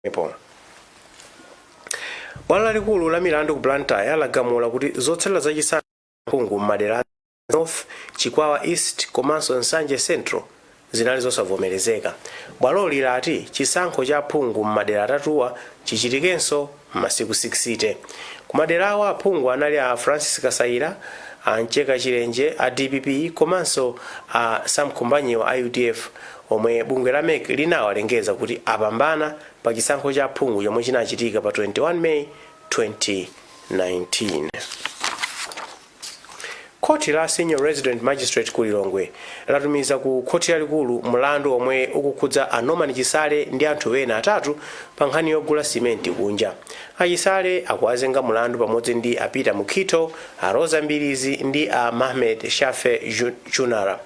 pomwepo bwalo lalikulu la milandu ku blantyre lagamula kuti zotsatira za chisankho phungu m'madera a north chikwawa east komanso nsanje central zinali zosavomerezeka bwaloli lati chisankho cha phungu m'madera atatuwa chichitikenso m'masiku 60 kumadera awa aphungu anali a francis kasaila a mcheka chilenje a dpp komanso a sam khumbanyiwa a udf omwe bungwe la mec linawalengeza kuti apambana pa chisankho cha aphungu chomwe chinachitika pa 21 May 2019. Khoti la Senior Resident Magistrate ku Lilongwe latumiza ku khoti lalikulu mlandu omwe ukukhudza a Norman Chisale ndi anthu ena atatu pa nkhani yogula simenti kunja. A Chisale akuwazenga mlandu pamodzi ndi a Peter Mukhito, A Roza Mbilizi ndi a Mahmed Shafee Chunara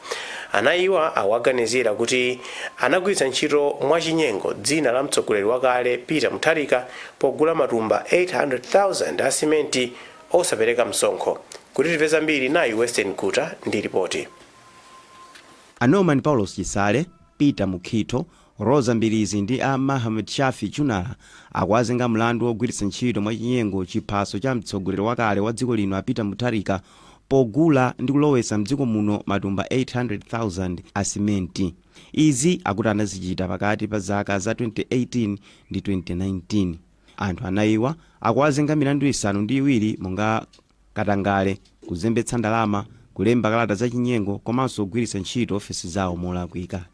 anayiwa akuwaganizira kuti anagwiritsa ntchito mwachinyengo dzina la mtsogoleri wakale Peter Mutharika pogula matumba 800,000 a simenti osapereka msonkho. Kuti timve zambiri nayi Western Guta ndi ripoti. A Norman Paulos Chisale, Peter Mukhito, Roza Mbilizi ndi a Mahmed Shafee Chunara akuwazenga mlandu wogwiritsa ntchito mwachinyengo chiphaso cha mtsogoleri wakale wa dziko lino a Peter Mutharika pogula ndi kulowetsa mdziko muno matumba 800,000 a simenti. Izi akuti anazichita pakati pa zaka za 2018 ndi 2019. Anthu anayiwa akuwazenga milandu isanu ndi iwiri monga. katangale, kuzembetsa ndalama, kulemba kalata zachinyengo komanso kugwiritsa ntchito ofesi zawo molakwika.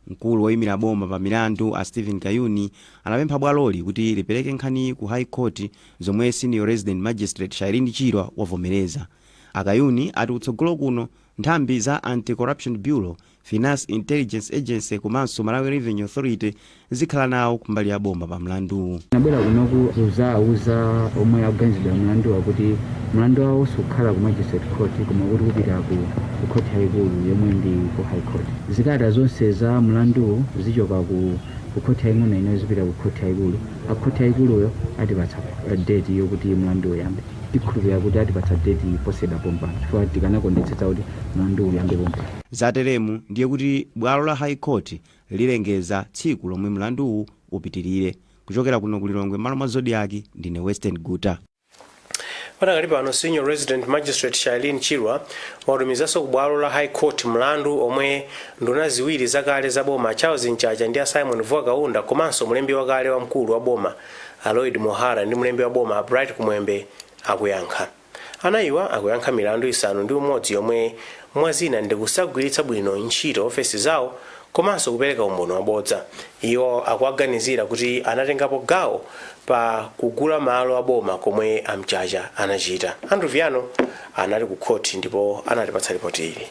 Mkulu woimira boma pa milandu a Steven Kayuni anapempha bwaloli kuti lipereke nkhaniyi ku High Court zomwe Senior Resident Magistrate Shyreen Chirwa wavomereza. A Kayuni ati kutsogolo kuno nthambi za Anti-Corruption Bureau Finance Intelligence Agency komanso Malawi Revenue Authority zikhala nawo kumbali ya boma pa mlanduwu. Tinabwera kunoku kuzauza omwe akuganizidwa mlanduwa kuti mlandu wawo sukhala ku magistrate court koma kuti upita ku court yayikulu yomwe ndi ku high court. Zikalata zonse za mlanduwu zichoka ku court yaying'ono ino zipita ku court yayikulu. A court yayikuluyo atipatsa eh, date yokuti mlandu uyambe. Tikhulupirira kuti atipatsa date posachedwa pompano chifukwa tikanakondetsetsa kuti mlandu uyambe pompano. Zateremu ndiye kuti bwalo la High Court lilengeza tsiku lomwe mlanduwu upitilire. Kuchokera kuno ku Lilongwe mmalo mwa Zodiak, ndine Western Guta. Padakali pano, Senior Resident Magistrate Shyreen Chirwa watumizanso ku bwalo la High Court mlandu omwe nduna ziwiri zakale za boma a Charles Mchacha ndi a Symon Vuwa Kaunda komanso mlembi wakale wamkulu wa boma a Lloyd Muhara ndi mlembi wa boma a Bright Kumwembe akuyankha. Anayiwa akuyankha milandu isanu ndi umodzi yomwe mwa zina ndi kusagwiritsa bwino ntchito ofesi zawo komanso kupereka umboni wabodza. Iwo akuwaganizira kuti anatengapo gawo pa kugula malo a boma komwe a Mchacha anachita. Andrew Viano anali ku khoti ndipo anatipatsa lipoti ili.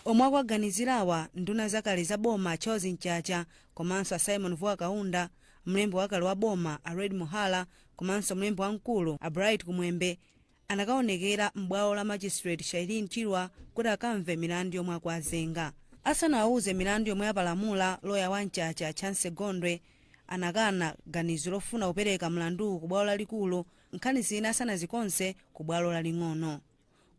Omwe akuwaganizirawa, nduna zakale za boma a Charles Mchacha komanso a Symon Vuwa Kaunda, mlembi wakale wa boma a Lloyd Muhara komanso mlembi wamkulu a Bright Kumwembe anakaonekera m'bwalo la Magistrate Shyreen Chirwa kuti akamve milandu yomwe akuwazenga. Asanawauze milandu yomwe apalamula, loya wa Mchacha, Chancy Gondwe, anakana ganizo lofuna kupereka mlanduwu kubwalo lalikulu nkhani zina asanazikonze kubwalo laling'ono.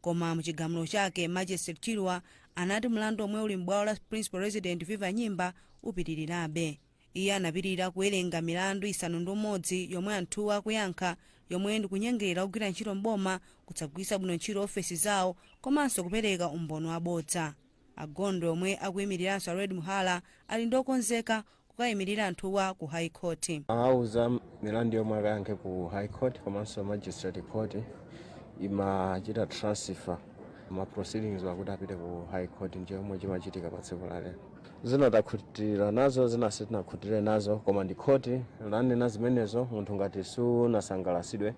Koma mu chigamulo chake, Magistrate Chirwa anati mlandu omwe uli m'bwalo la Principal Resident Viva Nyimba upitirirabe. Iye anapitirira kuwerenga milandu isanu ndi umodzi yomwe anthuwa akuyankha yomwe ndi kunyengerera ogwira ntchito m'boma, kusagwiritsa bwino ntchito ofesi zawo komanso kupereka umboni wabodza. A Gondwe omwe akuyimiliranso a Lloyd Muhara ali ndi okonzeka kukayimilira anthuwa ku High Court. Awauza milandu yomwe akayankhe ku High Court komanso Magistrate Court imachita transfer ma proceedings-wa kuti apite ku High Court ndi chomwe chimachitika pa tsiku la lero. Zina takhutira nazo zina sitinakhutire nazo koma ndi khoti lanena zimenezo munthu ngati sunasangalasidwe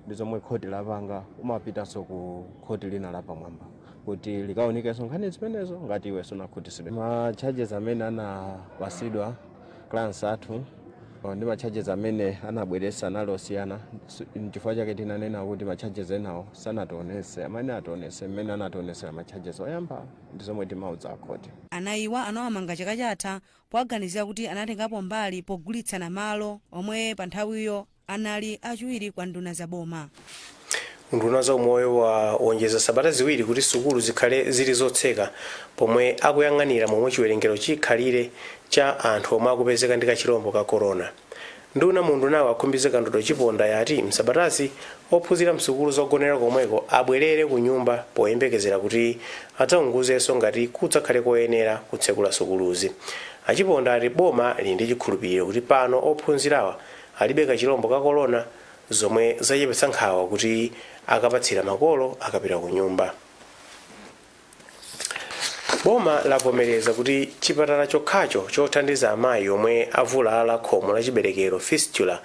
ndi zomwe khoti lapanga umapitanso ku khoti lina lapamwamba kuti likaunikenso nkhani zimenezo ngati iwe sunakhutisidwe ma charges amene anapasidwa clients athu oh, ndi ma charges amene anabweretsa anali osiyana Su- nchifukwa chake tinanena kuti ma charges enawo sanationese sanationese ationese mmene anationesera ma charges oyambawo ndi zomwe timauza a khoti. Anayiwa anawamanga chaka chatha powaganizira kuti anatengapo mbali pogulitsana malo omwe panthawiyo anali achiwiri kwa nduna za boma. Unduna wa za umoyo wawonjezera sabata ziwiri kuti sukulu zikhale zili zotseka pomwe akuyang'anira momwe chiwerengero chikhalire cha anthu omwe akupezeka ndi kachilombo ka corona. Nduna mu undunawu a Khumbize Kandodo Chiponda yati m'sabatazi, ophunzira m'sukulu zogonera komweko abwerere kunyumba poyembekezera kuti adzaunguzenso ngati kudzakhale koyenera kutsekula sukuluzi. A Chiponda ati boma lili ndi chikhulupiriro kuti pano ophunzirawa alibe kachilombo ka Corona zomwe zachepetsa nkhawa kuti akapatsira makolo akapita kunyumba. Boma lavomereza kuti chipatala chokhacho chothandiza amayi omwe avulala khomo la chiberekero, fistula,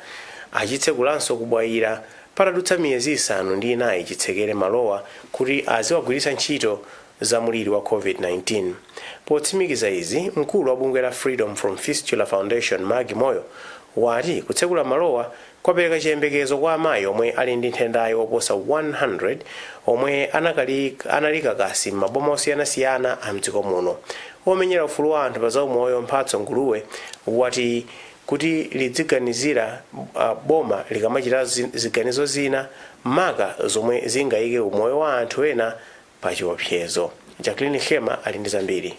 achitsekulanso ku Bwaila patadutsa miyezi isanu ndi inayi chitsekere malowa kuti aziwagwiritsa ntchito za muliri wa Covid-19. Potsimikiza izi, mkulu wa bungwe la Freedom From Fistula Foundation, Maggie Moyo, wati kutsekula malowa kwapereka chiyembekezo kwa amayi omwe ali ndi nthendayi oposa 100 omwe anali kakasi m'maboma osiyanasiyana a m'dziko muno. Womenyera ufulu wa anthu pa zaumoyo Mphatso Nguluwe wati kuti lidziganizira boma likamachita ziganizo zina maka zomwe zingaike umoyo wa anthu ena pachiopsezo. Jacqueline Khema ali ndi zambiri.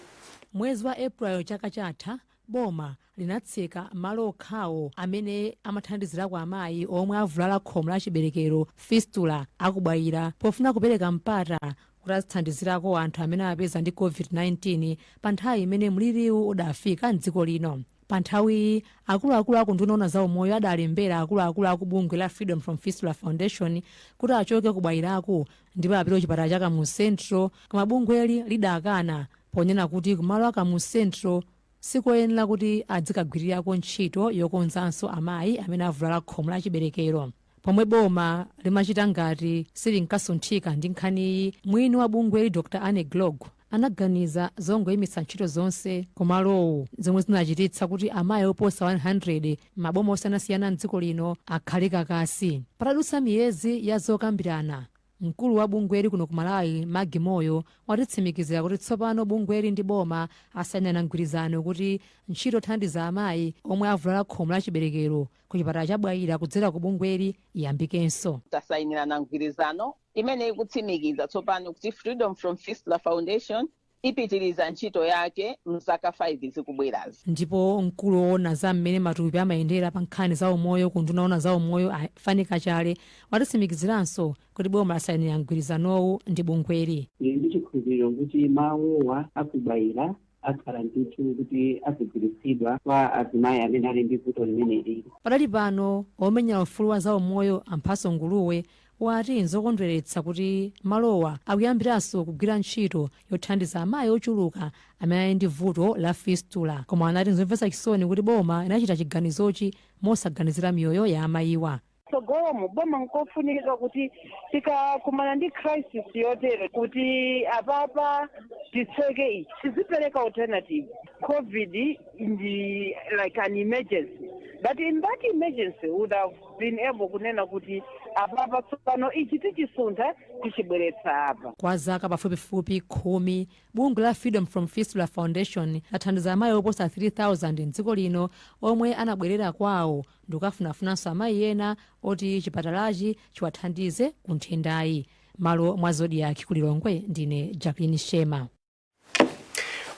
Mwezi wa April chaka chatha, Boma linatseka malo okhawo amene amathandizirako amayi omwe avulala khomo la chiberekero, fistula, a ku Bwaila pofuna kupereka mpata kuti azithandizirako anthu amene awapeza ndi Covid-19 pa nthawi imene mliriwu udafika m'dziko lino. Pa nthawiyi, akuluakulu a ku unduna woona za umoyo adalembera akuluakulu a ku bungwe la Freedom From Fistula Foundation kuti achoke ku Bwailaku ndipo apite kuchipatala cha kamuzu central koma bungweli lidakana ponena kuti kumalo a kamuzu central sikoyenera kuti adzikagwirirako ntchito yokonzanso amayi amene avulala khomo la chiberekero pomwe boma limachita ngati silinkasunthika ndi nkhaniyi mwini wa bungweli dr ann gloag anaganiza zongoimitsa ntchito zonse kumalowo zomwe zinachititsa kuti amayi oposa 100 m'maboma osiyanasiyana m'dziko lino akhale kakasi patadutsa miyezi ya zokambirana mkulu wa bungweli kuno ku malawi maggie moyo watitsimikizira kuti tsopano bungweli ndi boma asainirana mgwirizano kuti ntchito yothandiza amayi omwe avulala khomo la chiberekero ku chipatala cha bwaila kudzera ku bungweli iyambikenso tasayinirana mgwirizano imene ikutsimikiza tsopano kuti Freedom from Fistula Foundation ipitiriza ntchito yake mzaka 5 zikubwerazi. ndipo mkulu woona za mmene matupi amayendera pa nkhani za umoyo ku unduna woona za umoyo a Fannie Kachale watitsimikiziranso kuti boma lasainira mgwirizanowu ndi bungweli Tili ndi chikhulupiriro kuti malowa a ku Bwaila akhala ndithu kuti azigwiritsidwa kwa azimayi amene ali ndi vuto limeneli Padali pano, omenyera ufulu wa zaumoyo a Mphatso Nguluwe wati nzokondweretsa kuti malowa akuyambiranso kugwira ntchito yothandiza amayi ochuluka amene ali ndi vuto la fistula. Koma anati nzomvetsa chisoni kuti boma linachita chiganizochi mosaganizira miyoyo ya amayiwa. tsogolomu boma nkofunika kuti tikakumana ndi crisis yotere kuti apapa titseke ichi tizipereka alternative covid ndi like an emergency but in that emergency would have been able kunena kuti apapa tsopano ichi tichisuntha tichibweretsa apa kwa zaka pafupifupi khumi bungwe la freedom from fistula foundation lathandiza amayi oposa 3000 mdziko lino omwe anabwerera kwawo ndikukafunafunanso amayi ena oti chipatalachi chiwathandize ku nthendayi. Malo mwa Zodiak ku Lilongwe, ndine Jacqueline Nhlema.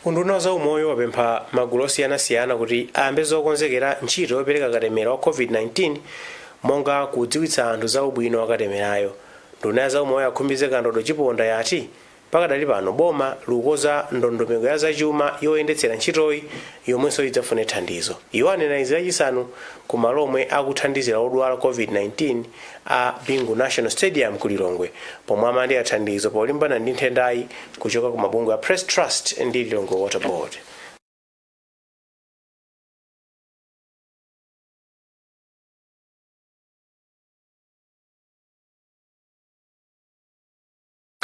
Unduna wa zaumoyo wapempha magulu osiyanasiyana kuti ayambe zokonzekera ntchito yopereka katemera wa COVID-19 monga kudziwitsa anthu za ubwino wa katemerayo. Nduna ya zaumoyo a Khumbize Kandodo Chiponda yati Pakadali pano boma likukonza ndondomeko ya zachuma yoyendetsera ntchitoyi yomwenso idzafune thandizo. Iwo anena izi lachisanu ku malo omwe akuthandizira odwala Covid-19 a Bingu National Stadium ku Lilongwe pomwe amalandira thandizo polimbana ndi nthendayi kuchoka ku mabungwe a Press Trust ndi Lilongwe Water Board.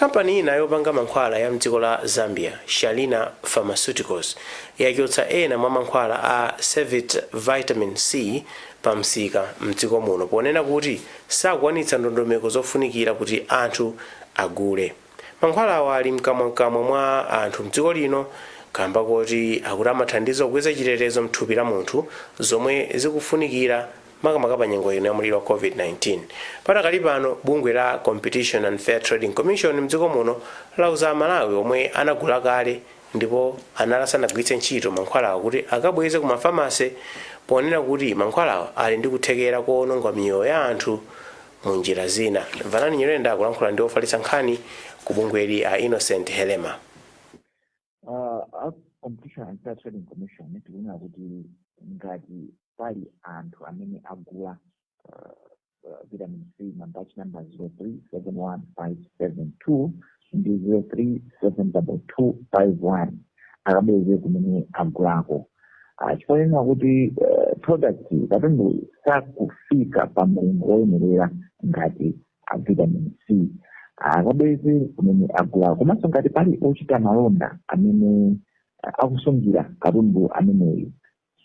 Kampani ina yopanga mankhwala ya mdziko la Zambia, Shalina Pharmaceuticals, yachotsa ena mwa mankhwala a Cevite Vitamin C pa msika mdziko muno ponena kuti sakwanitsa ndondomeko zofunikira kuti anthu agule. Mankhwalawa ali mkamwamkamwa mwa anthu mdziko lino kamba koti akuti amathandiza kukweza chitetezo mthupi la munthu zomwe zikufunikira makamaka pa nyengo ino ya mliri wa COVID-19. Padakali pano, bungwe la Competition and Fair Trading Commission mdziko muno lauza aMalawi omwe anagula kale ndipo anali asanagwiritse ntchito mankhwalawa kuti akabweze ku mafamase ponena kuti mankhwalawa ali ndi kuthekera koononga miyoyo ya anthu mu njira zina. Vanani Nyirenda akulankhula ndi ofalitsa nkhani ku bungweli a Innocent Helema. Uh, a competition and fair trading commission tikunena kuti ngati pali anthu amene agula uh, uh, vitamin c mabatch number 0371572 ndi 0372251 akabweze kumene agulako Ah, chifukwa chonena kuti eh, product katundu sakufika pa mlingo woyenerera ngati a vitamin c akabweze kumene agulako komanso ngati pali ochita malonda amene ah, akusungira katundu ameneyu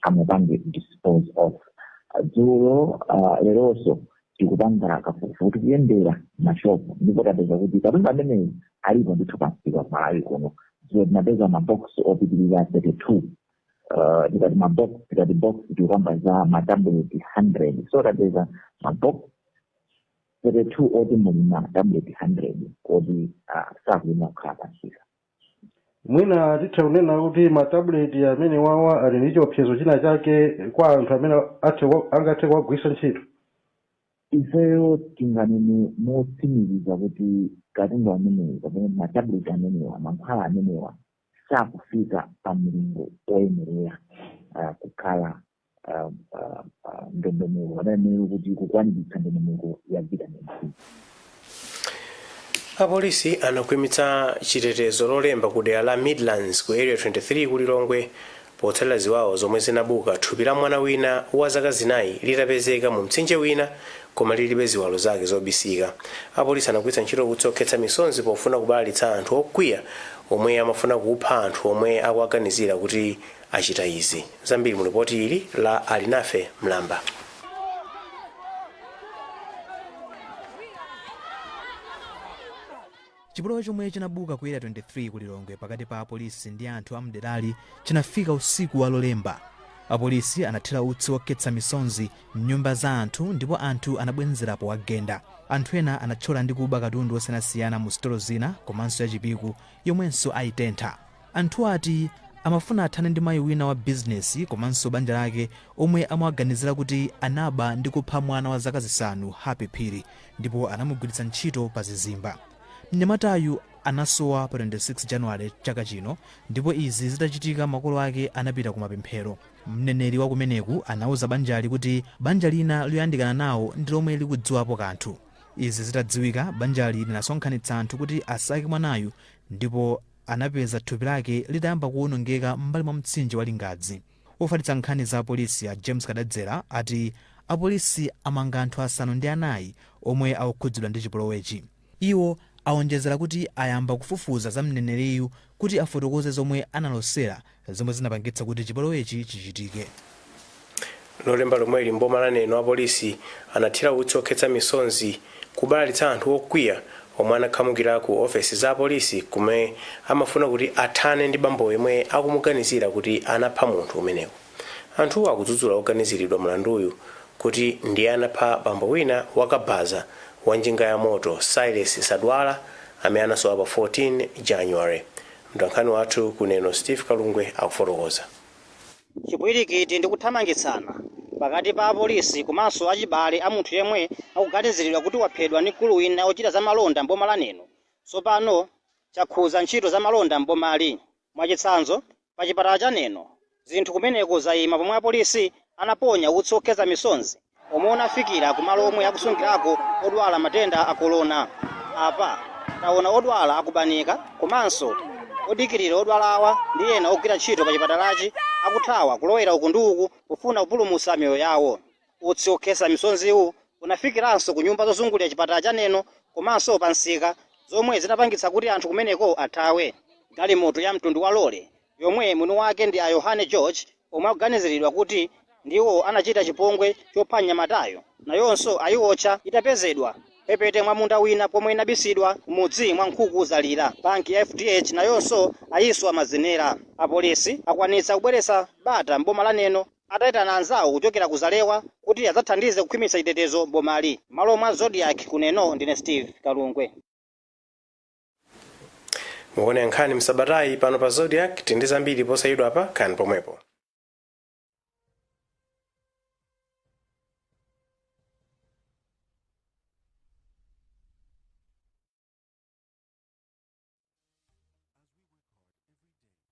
amupange dispose of Ah, dzulo ah, leronso tikupanga kafukufuku tikuyendera mashopu ndipo tapeza kuti katundu ameneyu alipo ndithu pamsika ku Malawi kuno dzulo tinapeza mabox opitirira 32 uh, tikati mabox tikati box tikukamba za matabuleti 100 so tapeza mabox 32 oti muli ma tablet 100 oti ah, sakuyenera kukhala pamsika mwina titha kunena kuti matabuleti amene wawa ali ndi chiopsezo china chake kwa anthu amene athe kwa- angathe kuwagwiritsa ntchito ifeyo tinganene motsimikiza kuti katundu ameneyo kapena matablet amenewa mankhwala amenewa sakufika pa mlingo woyenerera kukhala ndondomeko anayenera kuti kukwaniritsa ndondomeko ya vitamin c apolisi anakhwimitsa chitetezo lolemba ku dera la midlands ku area 23 ku lilongwe Potsatira ziwawa zomwe zinabuka thupi la mwana wina wa zaka zinayi litapezeka mu mtsinje wina koma lilibe ziwalo zake zobisika, apolisi anagwiritsa ntchito utsi okhetsa misonzi pofuna kubalalitsa anthu okwiya omwe amafuna kupha anthu omwe akuwaganizira kuti achita izi. Zambiri mu lipoti ili la Alinafe Mlamba. Chipolowe chomwe chinabuka ku Area 23 ku Lilongwe pakati pa apolisi ndi anthu a m'derali chinafika usiku wa Lolemba. Apolisi anathira utsi wokhetsa misonzi m'nyumba za anthu ndipo anthu anabwenzera powagenda. Anthu ena anathyola ndi kuba katundu wosiyanasiyana mu sitolo zina komanso ya Chipiku yomwenso aitentha. Anthu ati amafuna athane ndi mayi wina wa bizinesi komanso banja lake omwe amawaganizira kuti anaba ndi kupha mwana wa zaka zisanu, Happy Phiri, ndipo anamugwiritsa ntchito pa zizimba. Mnyamatayu anasowa pa 26 January chaka chino ndipo izi zitachitika makolo ake anapita ku mapemphero. Mneneri wa kumeneku anauza banjali kuti banja lina loyandikana nawo ndi lomwe likudziwapo kanthu. Izi zitadziwika, banjali linasonkhanitsa anthu kuti asake mwanayu ndipo. anapeza thupi lake litayamba kuwonongeka m'mbali mwa mtsinje wa Lingadzi. Wofalitsa nkhani za apolisi a James Kadadzera ati apolisi amanga anthu asanu ndi anayi omwe akukhudzidwa ndi chipolowechi. Iwo awonjezera kuti ayamba kufufuza za mneneriyu kuti afotokoze zomwe analosera zomwe zinapangitsa kuti chipolowechi chichitike. Lolemba lomweli m'boma la Neno apolisi anathira utsi okhetsa misonzi kubalalitsa anthu okwiya omwe anakhamukira ku ofesi za apolisi komwe amafuna kuti athane ndi bambo yemwe akumuganizira kuti anapha munthu kumeneku. Anthuwo akudzudzula oganiziridwa mlanduyu kuti ndiye anapha bambo wina wa kabaza wa njinga ya moto Silas Sadwala amene anasowa pa 14 January Mtolankhani wathu ku Neno Steve Kalungwe akufotokoza. Chipwirikiti ndi kuthamangitsana pakati pa apolisi komanso achibale a munthu yemwe akuganiziridwa kuti waphedwa ndi mkulu wina wochita za malonda m'boma la Neno tsopano chakhudza ntchito za malonda m'bomali. Mwachitsanzo, pa chipatala cha Neno, Zinthu kumeneko zaima pomwe apolisi anaponya utsi okhetsa misonzi omwe unafikira ku malo omwe akusungirako odwala matenda a Corona. Apa taona odwala akubanika komanso odikirira odwalawa ndi ena ogwira ntchito pa chipatalachi akuthawa kulowera uku ndi uku pofuna kupulumutsa miyoyo yawo. Utsi okhetsa misonziwu unafikiranso ku nyumba zozungulira chipatala cha Neno komanso pa msika zomwe zinapangitsa kuti anthu kumeneko athawe. Galimoto ya mtundu wa lole yomwe mwini wake ndi a Yohane George omwe akuganiziridwa kuti ndiwo anachita chipongwe chopha mnyamatayo, nayonso ayiotcha itapezedwa mphepete mwa munda wina pomwe inabisidwa m'mudzi mwa Nkhukuzalira. Banki ya FDH nayonso ayiswa mazenera. Apolisi akwanitsa kubweretsa bata m'boma la Neno ataitana anzawo kuchokera ku Zalewa kuti adzathandize kukhwimitsa chitetezo m'bomali. M'malo mwa Zodiak ku Neno, ndine Steve Kalungwe. muone nkhani za msabatayi pano pa Zodiak tili ndi zambiri posachedwapa khalani pomwepo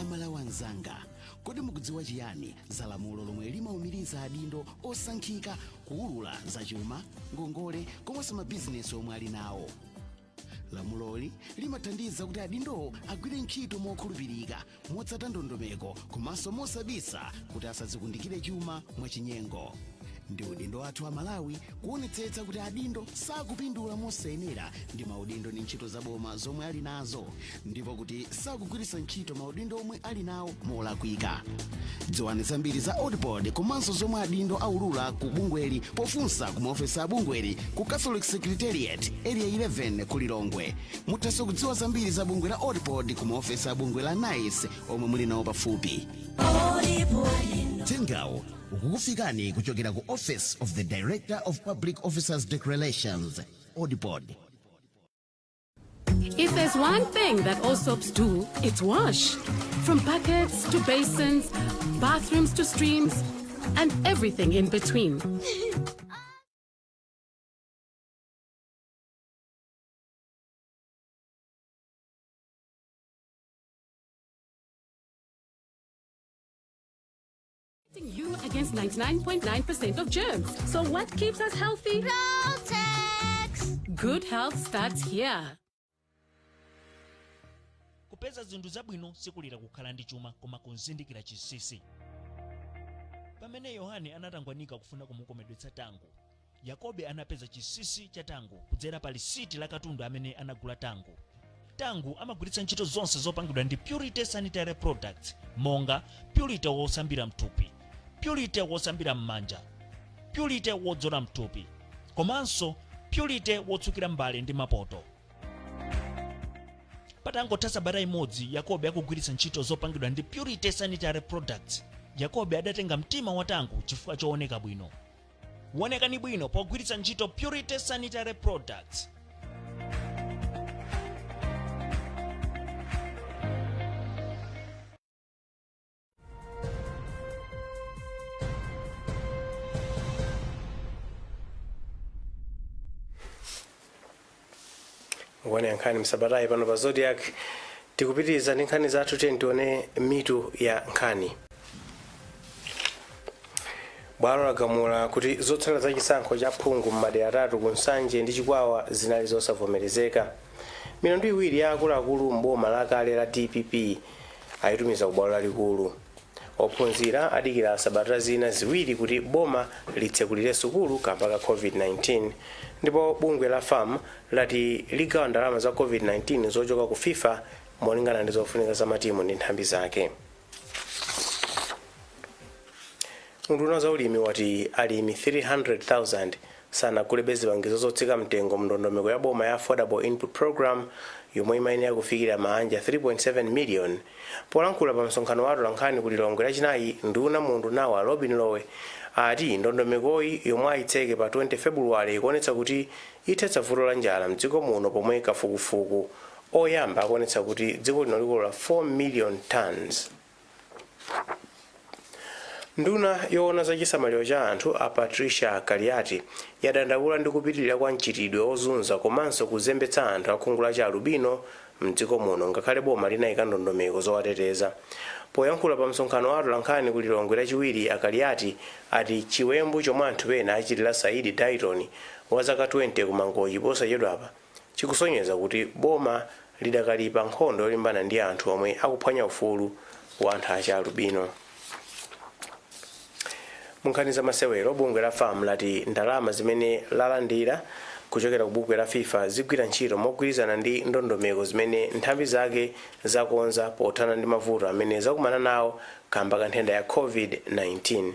amalawi anzanga kodi mukudziwa chiyani za lamulo lomwe limaumiriza adindo osankhika kuulula za chuma ngongole komanso mabizinesi omwe ali nawo lamuloli limathandiza kuti adindowo agwire ntchito mokhulupirika motsata ndondomeko komanso mosabisa kuti asadzikundikire chuma mwachinyengo ndi udindo wathu amalawi kuonetsetsa kuti adindo sakupindula mosayenera ndi maudindo ndi ntchito zaboma zomwe ali nazo ndipo kuti sakugwiritsa ntchito maudindo omwe ali nawo molakwika dziwani zambiri za ODPOD komanso zomwe adindo aulula ku bungweli pofunsa ku maofesi a bungweli ku catholic secretariat area 11 ku lilongwe muthanso kudziwa zambiri za bungwe la ODPOD ku maofesi a bungwe la nice omwe muli nawo pafupi uthengawu ukukufikani kuchokera ku office of the director of public officers declarations ODPOD If there's one thing that all soaps do, it's wash. From buckets to basins, bathrooms to streams, and everything in between. protecting you against 99.9% of germs. So what keeps us healthy? Protex! Good health starts here. kupeza zinthu zabwino sikulira kukhala ndi chuma koma kuzindikira chinsinsi pamene yohane anatangwanika kufuna kumukomedwetsa tango Yakobe anapeza chinsinsi cha tangu kudzera pa lisiti la katundu amene anagula tangu. Tangu amagwiritsa ntchito zonse zopangidwa ndi Purity Sanitary Products monga Purity wosambira mthupi, Purity wosambira m'manja, Purity wodzola mthupi, komanso Purity wotsukira mbale ndi mapoto. Patangotha sabata imodzi Yakobe akugwiritsa ntchito zopangidwa ndi Purity Sanitary Products, Yakobe adatenga mtima wa tangu chifukwa chooneka bwino. wonekani bwino pogwiritsa ntchito purity sanitary products mukuona ya nkhani msabatayi pano pa zodiac tikupitiriza ndi nkhani zathu tiye tione mitu ya nkhani bwalo lagamula kuti zotsatira za chisankho cha phungu m'madera atatu ku nsanje ndi chikwawa zinali zosavomerezeka milandu iwiri ya akuluakulu m'boma lakale la dpp ayitumiza ku bwalo lalikulu Ophunzira adikira sabata zina ziwiri kuti boma litsekulire sukulu kamba ka Covid-19 ndipo bungwe la fam lati ligawa ndalama za Covid-19 zochoka ku fifa molingana ndi zofunika za matimu ndi nthambi zake. Unduna wa za ulimi wati alimi 300,000 sanagulebe zipangizo zotsika mtengo mndondomeko ya boma ya Affordable Input Programme yomwe imayenera kufikira maanja 3.7 million. Polankhula pa msonkhano wa atolankhani ku Lilongwe lachinayi, nduna mu undunawu a Lobin Lowe ati ndondomekoyi yomwe ayitseke pa 20 Febuluwale ikuonetsa kuti ithetsa vuto la njala mdziko muno pomwe kafukufuku oyamba akuonetsa kuti dziko lino likolola 4 million tonnes. Nduna yowona za chisamaliro cha anthu a Patricia Kaliati yadandaula ndi kupitilira kwa mchitidwe ozunza komanso kuzembetsa anthu akhungu la chi alubino mdziko muno ngakhale boma linayika ndondomeko zowateteza. Poyankhula pa msonkhano wa atolankhani ku Lilongwe lachiwiri a Kaliati ati chiwembu chomwe anthu ena achitila Saidi Dyton wa zaka 20 ku Mangochi posachedwapa, chikusonyeza kuti boma lidakali pa nkhondo yolimbana ndi anthu omwe akuphwanya ufulu wa anthu achialubino. Munkhani za masewero, bungwe la fam lati ndalama zimene lalandira kuchokera ku bungwe la fifa zigwira ntchito mogwirizana ndi ndondomeko zimene nthambi zake zakonza pothana ndi mavuto amene zakumana nawo kamba ka nthenda ya covid-19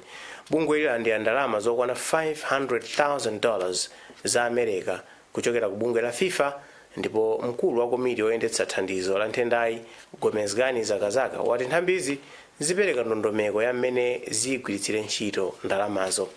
bungweli lalandira ndalama zokwana 500,000 dollars za america kuchokera ku bungwe la fifa ndipo mkulu wa komiti oyendetsa thandizo la nthendayi Gomezgani Zakazaka wati nthambizi zipereka ndondomeko ya mmene ziyigwiritsire ntchito ndalamazo.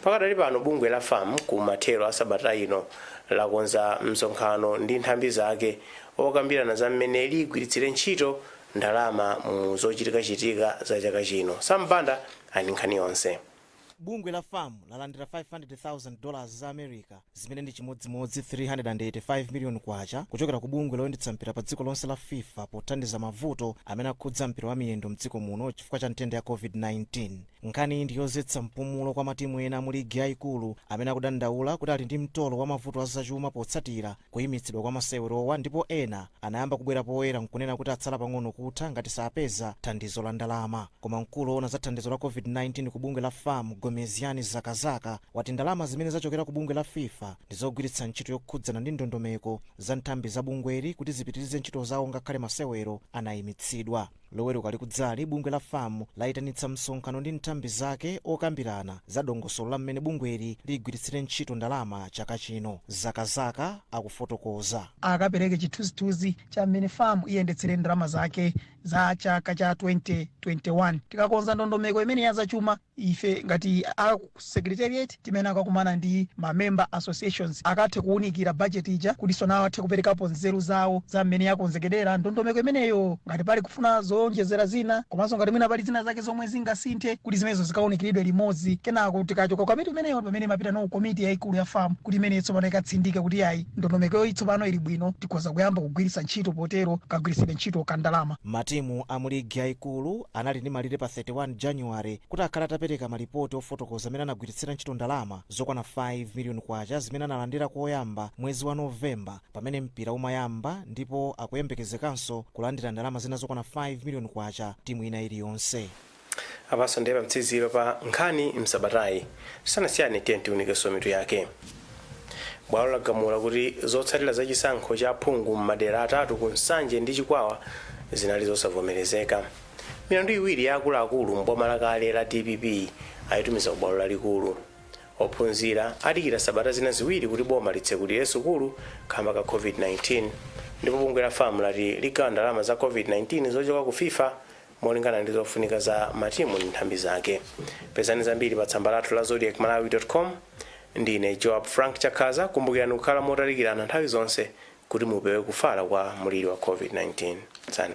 Pakadali pano bungwe la fam ku mathero a sabata ino lakonza msonkhano ndi nthambi zake okambirana za mmene liyigwiritsire ntchito ndalama mu zochitikachitika za chaka chino. Sam Banda ali ndi nkhani yonse. Bungwe la fam lalandira 500,000 dollars za America zimene ndi chimodzimodzi 385 million kwacha kuchokera ku bungwe loyendetsa mpira pa dziko lonse la fifa pothandiza mavuto amene akhudza mpira wa miyendo mdziko muno chifukwa cha nthenda ya Covid-19. Nkhaniyi ndi yozetsa mpumulo kwa matimu ena mu ligi yaikulu amene akudandaula kuti ali ndi mtolo wa mavuto a zachuma potsatira Kuyimitsidwa kwa masewerowa ndipo ena anayamba kubwera poyera nkunena kuti atsala pang'ono kutha ngati sapeza thandizo la ndalama. Koma mkulu owona za thandizo la Covid-19 ku bungwe la fam, Gomezgani Zakazaka, wati ndalama zimene zachokera ku bungwe la fifa ndi zogwiritsa ntchito yokhudzana ndi ndondomeko za nthambi za bungweli kuti zipitirize ntchito zawo ngakhale masewero anayimitsidwa. Loweruka likudzali, bungwe la fam layitanitsa msonkhano ndi nthambi zake okambirana za dongosolo la mmene bungweli ligwiritsire ntchito ndalama chaka chino. Zakazaka akufotokoza. akapereke chithunzithunzi cha mmene fam iyendetsere ndalama zake za chaka cha 2021. Tikakonza ndondomeko imene ya zachuma. Ife ngati a secretariat timayenera kukakumana ndi ma member associations akathe kuwunikira budget ija kuti tsono athe kuperekapo nzeru zawo za mmene yakonzekedera ndondomeko imeneyo ngati pali kufuna zowonjezera zina komanso ngati mwina pali zina zake zomwe zingasinthe kuti zimenezo zikawunikiridwe limodzi kenako tikachoka ku komiti imeneyo ndi pamene imapitano ku komiti yayikulu ya fam kuti imeneyo tsopano ikatsindike kuti iyayi ndondomekoyo tsopano ili bwino tikhoza kuyamba kugwiritsa ntchito potero kagwiritsidwe ntchito ka ndalama. Matimu a mu ligi yayikulu anali ndi malire pa 31 January kuti akhale atapereka malipoti ofotokoza mmene anagwiritsira ntchito ndalama zokwana 5 million kwacha zimene analandira koyamba mwezi wa November pamene mpira umayamba ndipo akuyembekezekanso kulandira ndalama zina zokwana 5 million kwacha timu ina iliyonse. apanso ndiye pamtsiziro pa nkhani msabatayi. tisanasiyane tiyeni tiunikenso mitu yake. Bwalo lagamula kuti zotsatira za chisankho cha aphungu m'madera atatu ku Nsanje ndi Chikwawa zinali zosavomerezeka. Milandu iwiri ya akuluakulu m'boma lakale la dpp ayitumiza ku bwalo lalikulu. Ophunzira adikira sabata zina ziwiri kuti boma litsekulire sukulu kamba ka Covid-19. Ndipo bungwe la fam lati ligawa ndalama za Covid-19 zochoka ku fifa molingana ndi zofunika za matimu ndi nthambi zake pezani zambiri pa tsamba lathu la zodiak malawi com ndine joab frank chakhaza kumbukirani kukhala motalikirana nthawi zonse kuti mupewe kufala kwa muliri wa covid-19 Tsani.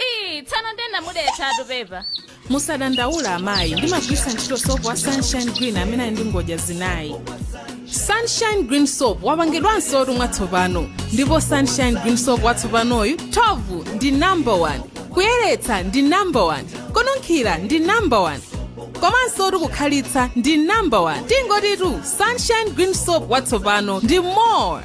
Ii, tsano ndinamudetsatu pepa. musadandaula amayi ndimagwiritsa ntchito sopo wa sunshine green amene ali ndi ngodya zinayi sunshine green soap wapangidwansotu mwatsopano ndipo sunshine green soap watsopanoyu thovu ndi number 1 kuyeretsa ndi number 1 kununkhira ndi number 1 komansotu kukhalitsa ndi number 1 tingotitu sunshine green soap watsopano ndi more